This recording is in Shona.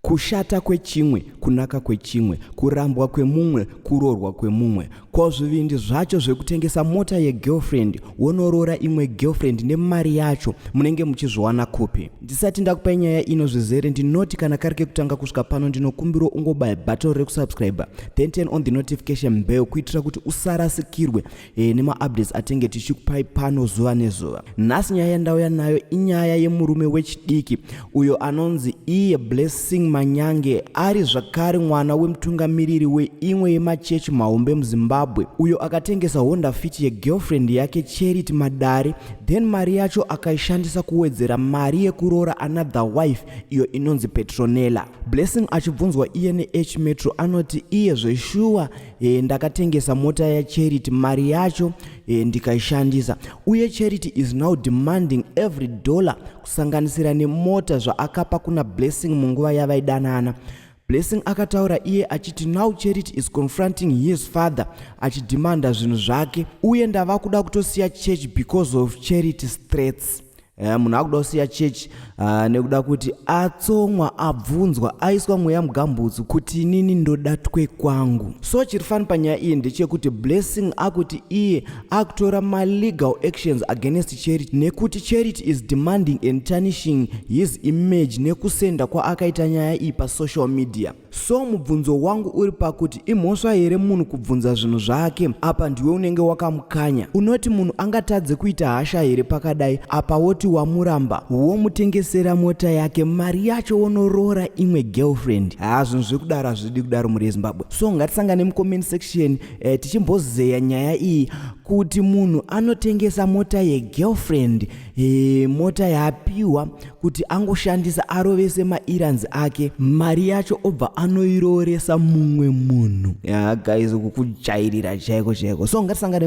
Kushata kwechimwe, kunaka kwechimwe, kurambwa kwemumwe, kuroorwa kwemumwe. Ko zvivindi zvacho zvekutengesa mota yegirlfriend wonoroora imwe girlfriend nemari yacho munenge muchizviwana kupi? Ndisati ndakupa nyaya ino zvizere ndinoti kana kari kekutanga kusvika pano ndinokumbirwa ungobaya button rekusubscriber then turn on the notification bell kuitira kuti usarasikirwe e, nemaupdates atenge tichikupai pano zuva nezuva nhasi nyaya yandauya nayo inyaya yemurume wechidiki uyo anonzi iye blessing manyange ari zvakare mwana wemutungamiriri weimwe yemachechi mahombe muzimbabwe uyo akatengesa honda fit yegirlfriend yake charity madare then mari yacho akaishandisa kuwedzera mari yekuroora another wife iyo inonzi petronella blessing achibvunzwa iye nehmetro anoti iye zveshuwa e, ndakatengesa mota yacharity mari yacho e, ndikaishandisa uye charity is now demanding every dollar kusanganisira nemota zvaakapa kuna blessing munguva yavaidanana blessing akataura iye achiti now charity is confronting his father achidhimanda zvinhu zvake uye ndava kuda kutosiya church because of charity straits Eh, munhu akuda kusiya church uh, nekuda kuti atsomwa abvunzwa aiswa mweya mugambutsu kuti inini ndoda twe kwangu so chiri fani panyaya iyi ndechekuti blessing akuti iye akutora malegal actions against charity nekuti charity is demanding and tarnishing his image nekusenda kwaakaita nyaya iyi pasocial media so mubvunzo wangu uri pakuti imhosva here munhu kubvunza zvinhu zvake apa ndiwe unenge wakamukanya unoti munhu angatadze kuita hasha here pakadai apa woti wamuramba womutengesera mota yake mari yacho wonoroora imwe girlfriend haa zvinhu zvekudaro hazvidi kudaro mhuri yezimbabwe so ngatisangane mucomment section eh, tichimbozeya nyaya iyi kuti munhu anotengesa mota yegirlfriend He, mota yaapiwa kuti angoshandisa arovese mairans ake mari yacho obva anoirooresa mumwe munhu ya guys kukujairira chaiko chaiko so ngatisangane